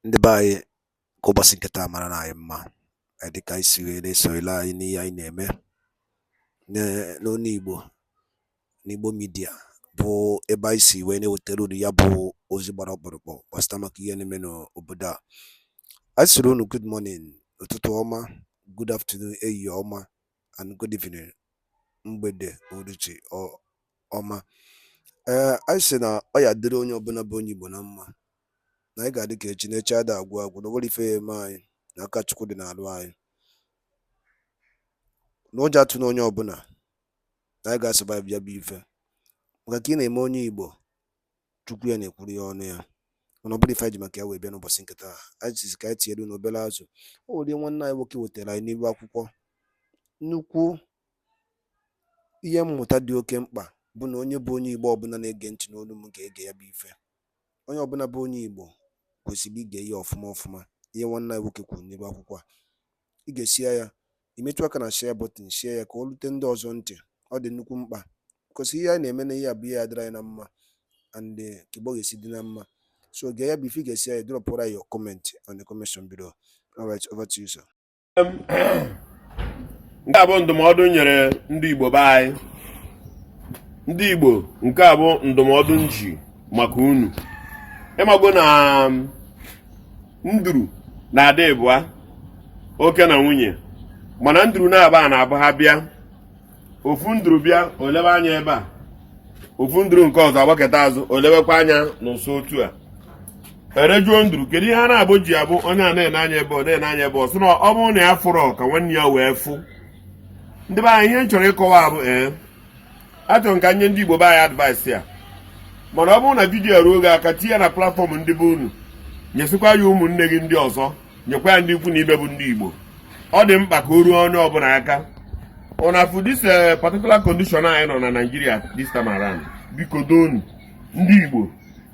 ndị be anyị ka ụbọchị nke taa mara na anyị mma eh, dịka anyị si wee na-esoro anyị n'ihe anyị na-eme n'olu Igbo n'Igbo midia bụ ebe anyị si wee na-ewetara unu ya bụ ozi gbara ọkpụrụkpụ gbasịta maka ihe na-eme n'obodo a anyị sịrị unu good morning ụtụtụ ọma good afternoon ehihie ọma and good evening mgbede uruchi ọma ee eh, anyị sị na ọ ya-adịrị onye ọbụla bụ onye Igbo na mma na anyị ga-adị ka echi na echi ada agwụ agwụ na o nwerọ ife ya-eme anyị na aka Chukwu dị n'arụ anyị na ụjọ atụna onye ọbụla na anyị ga-asurvive ya bụ ife maka ka ị na-eme onye Igbo chukwu ya na-ekwuru ya ọnụ ya mana ọ bụrụ ife anyị ji maka ya wee bịa n'ụbọchị nke taa anyị sizi ka anyị tinyere unu obere azụ o nwere nwanne anyị nwoke wetara anyị n'iru akwụkwọ nnukwu ihe mmụta dị oke mkpa bụ na onye bụ onye igbo ọbụla na-ege ntị n'olu m ga-ege ya bụ ife onye ọbụla bụ onye igbo kwesịrị ige ya ọfụma ọfụma ihe nwanne anyị nwoke kwuru n'iru akwụkwọ a i gesịa ya i metụ aka na share button share ya ka o rute ndị ọzọ ntị ọ dị nnukwu mkpa because ihe anyị na-eme na ihe a bụ ihe ya-adịrị anyị na mma and eh, ka Igbo ga-esi dị na mma so gee ya bụ ife i gesịa ya dropụrụ anyị your comment on the comment section below all right over to you sir nke a bụ ndụmọdụ nyere ndị Igbo be anyị ndị Igbo nke a bụ ndụmọdụ m ji maka unu ị mago na um, nduru na-adị ịbụa oke na nwunye mana nduru na-aba ọ na-abụ ha bịa ofu nduru bịa o lebe anya ebe a ofu nduru nke ọzọ agbaketa azụ olebekwa anya n'ụsọ otu a e wee jụọ nduru kedu ihe ọ na-abụ ji abụ onye a na-ene anya ebe ọ na-ene anya ebe ọ sị na ọ bụrụ na ya afụrọ ka nwanne ya wee fụ ndị be anyị ihe m chọrọ ịkọwa bụ ee achọrọ m ka m nye ndị Igbo be anyị advice a mana ọ bụrụ na vidiyo a ruo gị aka tinye ya na platfọm ndị be unu nyesikwa ya ụmụnne gị ndị ọzọ nyekwa ya ndị ikwu na ibe bụ ndị Igbo ọ dị mkpa ka o ruo onye ọbụla aka unu afụ this eh, particular condition anyị nọ na Nigeria this time around biko donu ndị Igbo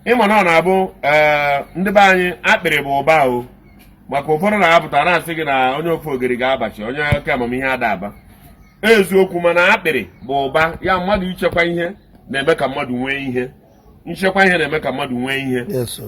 ị ma na ọ na-abụ eh, ndị be anyị akpịrị bụ ụba o maka ụfọdụ na-apụta na-asị gị na onye ofogiri ga-abachi onye oke amamihe ada aba eziokwu mana akpịrị bụ ụba ya mmadụ ichekwa ihe na-eme ka mmadụ nwee ihe ichekwa ihe na-eme ka mmadụ nwee ihe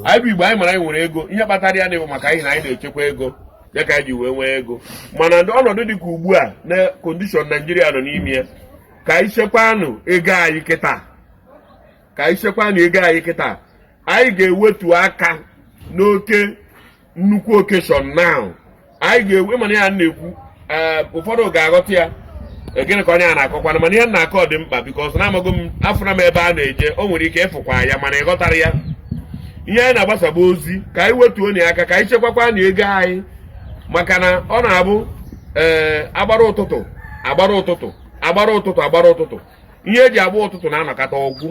anyị bụ igbo anyị mara anyị nwere ego ihe kpatara ya na-abụ maka anyị na anyị na-echekwa ego ya ka anyị ji wee nwee ego mana ọnọdụ dị ka ugbu a na condition Nigeria nọ n'ime ya ka anyị chekwanụ ego anyị kịta ka anyị chekwanụ ego anyị kịta anyị ga-ewetu aka n'oke nnukwu okeshọn now anyị ga-ewe mana ya na-ekwu eh, ụfọdụ ga-aghọta ya eh, gịnị ka onye a na-akọkwana mana ihe na-akọ dị mkpa bikos na amago m afụna m ebe a na-eje o nwere ike ịfụkwa ya mana ị ghọtara ya ihe anyị na-agbasaba ozi ka anyị wetuonụ aka ka anyị chekwakwanụ ego anyị maka na ọ na-abụ ee eh, agbara ụtụtụ agbara ụtụtụ agbara ụtụtụ agbara ụtụtụ ihe eji agba ụtụtụ na-anọkata ọ gwụ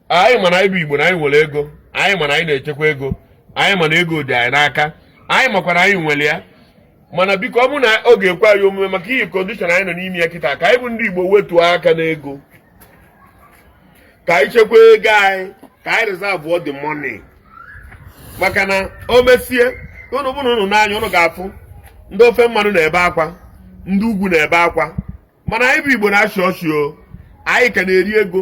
anyị ma na anyị bụ igbo na anyị nwere ego anyị ma na anyị na-echekwa ego anyị ma na ego dị anyị n'aka anyị makwa na anyị nwere ya mana biko ọ bụ na ọ ga-ekwe anyị omume maka ihi kọndishọn anyị nọ n'ime ya kịta ka anyị bụ ndị igbo wetuo aka n'ego ka anyị chekwa ego anyị ka anyị rizavụọ the money maka na o mesie ụnụ bụrụ ụnụ n'anya ụnụ ga-afụ ndị ofe mmanụ na-ebe akwa ndị ugwu na-ebe akwa mana anyị bụ igbo na-achị ọchị o anyị ka na-eri ego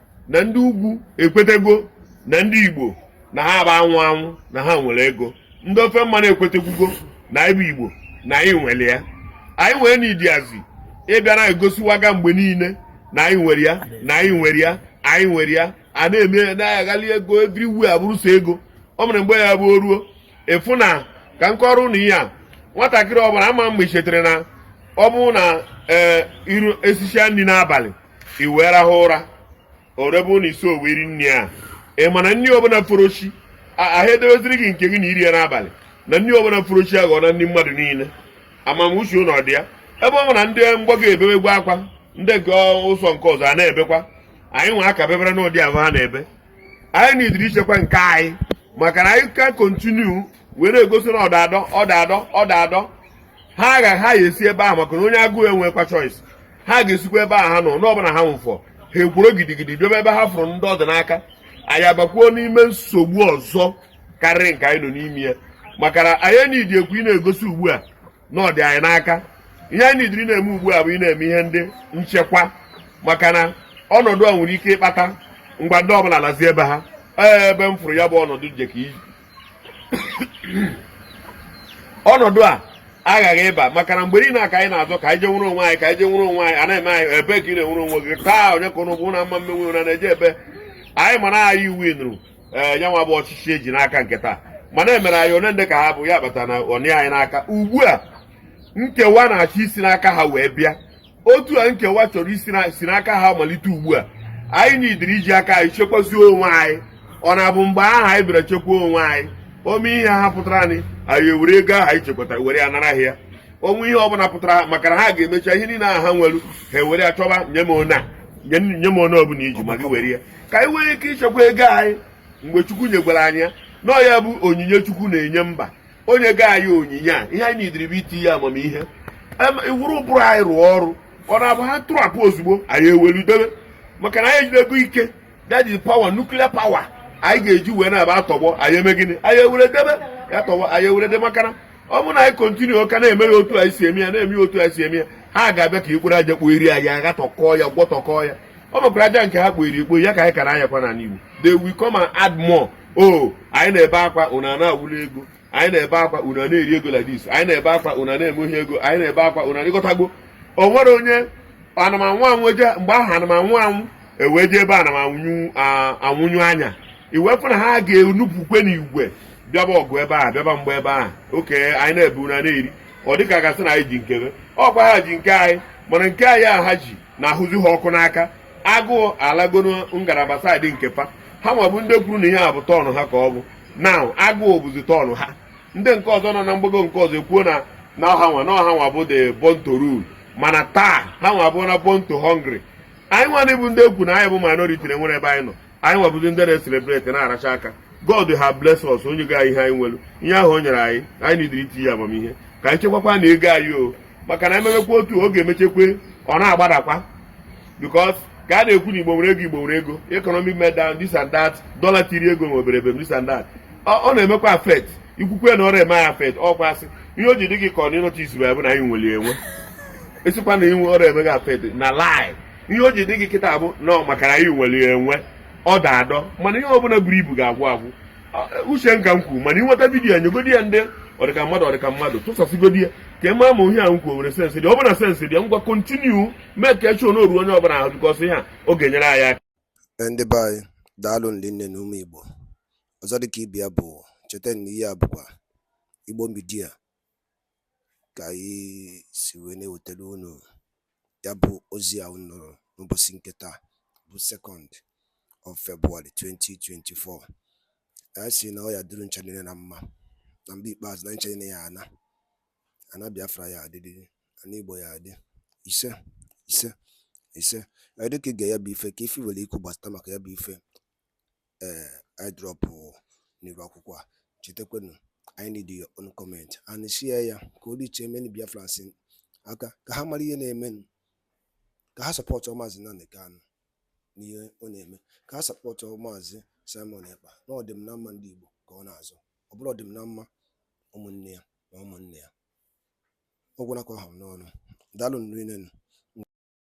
na ndị ugwu ekwetego na ndị igbo na ha bụ anwụ anwụ na ha nwere ego ndị ofe mmanụ ekwetekwugo na anyị bụ igbo na anyị nwere ya anyị nwere enidiazi ịbịa na-egosiwaga mgbe niile na anyị nwere ya na anyị nwere ya anyị nwere ya a na-eme ya na-aghali ego everywhere abụrụ sọ ego ọ mere mgbe ya bụ o ruo ị fụna ka m kọọrọ ụnụ ihe a nwatakịrị ọbụla ama mgbe i chetere na ọ bụrụ na ee eh, i risisịa nri n'abalị i wee rahụ ụra orebe ụlọ isi owe iri nri a ị ma na nri ọbụla fọrọ chi ahụ edeweziri gị nke gị na iri ya n'abalị na nri ọbụla fọrọ chi aghọ na ndị mmadụ niile amamuche ụlọ dị ya ebe ọ na ndị mgbago ebewegwo akwa ndị nke ụzọ nke ọzọ a na-ebekwa anyị nwe aka bebere n'ụdị ahụ ha na-ebe anyị nidiri ichekwa nke anyị maka na anyị ka kontinu were egosi na ọda adọ ọda adọ ọda adọ ha agha ha ya esi ebe ahụ maka na onye agụụ enwekwa choice ha ga-esikwa ebe a ha nọ na ọ bụrụ na ha nwụfọ ha ekworo gidigidi bịaba ebe ha fụrụ ndị ọ dị n'aka anyị abakwuo n'ime nsogbu ọzọ karịrị nke anyị nọ n'ime ya maka na anyị enidi ekwu ịna-egosi ugbu a na ọ dị anyị n'aka ihe anyị nidiri na-eme ugbu a bụ ịna-eme ihe ndị nchekwa maka na ọnọdụ a nwere ike ịkpata ngwa ndị ọbụla lazie ebe ha ebe m fụrụ ya bụ ọnọdụ je ka ọnọdụ a aghaghị ịba maka na mgbe niile a ka anyị na-azọ ka anyị je nwere onwe anyị ka anyị je nwere onwe anyị anaghị eme anyị ebe ka ị na-enwere onwe gị taa onye ka ụnụ bụ na mma mmenwe na na-eje ebe anyị ma na anyị winiri ee eh, nyanwa bụ ọchịchị eji n'aka nke taa mana emere anyị one ndị ka ha bụ ya kpata na ọ nọ anyị n'aka ugbu a nkewa na-achọ isi n'aka ha wee bịa otu a nkewa chọrọ isi n'aka ha malite ugbu a anyị nidiri iji aka anyị chekwazie onwe anyị ọ na-abụ mgbe aha anyị bịara chekwa onwe anyị o nwee ihe ha pụtara anyị anyị ewere ego aha anyị chekwatara were ya nara ya o nwee ihe ọbụla pụtara maka na ha ga-emecha ihe niile aha ha nwere ha ewere ya chọba nye m one ọbụla i ji ma gị were ya ka anyị nwee ike ichekwa ego anyị mgbe Chukwu nyegwara anyị ya na ya bụ onyinye Chukwu na-enye mba o nyego anyị onyinye a ihe anyị nidiri bụ itinye amamihe iwere ụbụrụ anyị rụọ ọrụ ọ na-abụ ha tụrapụ ozugbo anyị ewelu debe maka na anyị ejidego ike that is power nuclear power anyị ga-eji wee na-aba atọgbọ anyị eme gịnị anyị ewere debe ya tọgbọ anyị ewere debe maka na ọ bụrụ na anyị kontinukwa na-eme ya otu anyị si eme ya na-eme ya otu anyị si eme ya ha ga-abịa ka ikporo aja kpoo iri anyị agha tọkọọ ya gwọtọkọọ ya ọ bụkwara aja nke ha kpoo iri ikpo ya ka anyị kara anyakwa n'ala Igbo they will come and add more o oh, anyị na-ebe akwa unu ana-awụli ego anyị na-ebe akwa unu ana-eri ego like this anyị na-ebe akwa unu ana-eme ihe ego anyị na-ebe akwa unu ị ghọtago o nwere onye anụmanwụ anwụ eje mgbe ahụ anụmanwụ anwụ ewee jee ebe anụmanwụ anwụnyụ anya iwepụ na ha ga-enupụkwe n'igwe bịaba ọgụ ebe a bịaba mgba ebe a oke anyị na-ebe unu ana-eri ọ dịka a ga-asị na anyị ji nkebe ọkwa ha ji nke anyị mana nke anyị a ha ji na-ahụzi ha ọkụ n'aka agụụ alagonu ngalaba saịdị nke pa ha nwa bụ ndị kwuru na ihe a bụ tọọnụ ha ka ọ bụ na agụụ bụzi tọọnụ ha ndị nke ọzọ nọ na mgbago nke ọzọ ekwuo na na ọ ha nwa na ọ ha nwa bụ the born to rule mana taa ha nwa bụ na born to hungry anyị nwanụ bụ ndị e kwu na anyị bụ minority na-enwerọ ebe anyị nọ anyị nwa bụzi ndị na-eselebreti na-aracha aka God have bless us o nyego ihe anyị nwere ihe ahụ o nyere anyị anyị nidiri itinye amamihe ka anyị chekwakwanụ ego anyị o maka na ememekwa otu oge e mechakwa ọ na-agbadakwa because ka a na-ekwu na Igbo nwere ego Igbo nwere ego economic meltdown this and that dollar tiri ego nwe obere ebem this and that ọ na-emekwa affect i kwukwa na ọrọ eme ya affect ọkwa asị ihe o ji dị gị ka ọ na ịnọcha isi bụ na anyị nwere enwe ị sịkwa na inwe ọrọ eme gị affect na lie ihe o ji dị gị kịta bụ na ọ maka na anyị nwere enwe ọ da adọ mana ihe ọbụla buru ibu ga-agwụ agwụ uche m ka m kwuru mana ị nweta vidiyo a nyegodi ya ndị ọdịka mmadụ ọdịka mmadụ tụsasịgodi ya ka ị ma ma ihe a m kwuo nwere sensị dị ọ bụ na sensị dị ngwa kontinu mee ka echi ọ na-eru onye ọbụla ahụ bikọsị ihe a ọ ga-enyere anyị aka ndị be anyị daalụ rinne nụ ụmụ Igbo ọzọ dịka ibe ya bụ cheta na ihe a bụkwa Igbo Media ka anyị si wee na-ewetara unu ya bụ ozi a unu nụrụ n'ụbọchị nke taa bụ second of February 2024 anyị sị na ọ ya-adịrị ncha niile na mma na mgbe ikpeazụ na ncha niile ya ana ana Biafra ya adị ana Igbo ya adị isee isee isee dịka ị gee ya bụ ife kaa ife ị nwere ikwu gbasata maka ya bụ ife eh, anyị drọpụ n'iru akwụkwọ a chetakwanụ anyị need your own comment and share ya ka o riche many Biafrans aka ka ha mara ihe na-eme ka ha sọpọtụ maazị Nnamdi Kanu n'ihe ọ na-eme ka ha sọpọtụ maazị Simon Ekpa na ọdịm na mma ndị Igbo ka ọ na-azọ ọ bụrọ ọdịm na mma ụmụnne ya na ụmụnne ya ọ gwụla ka ọ ha m n'ọnụ daalụ rinne nụ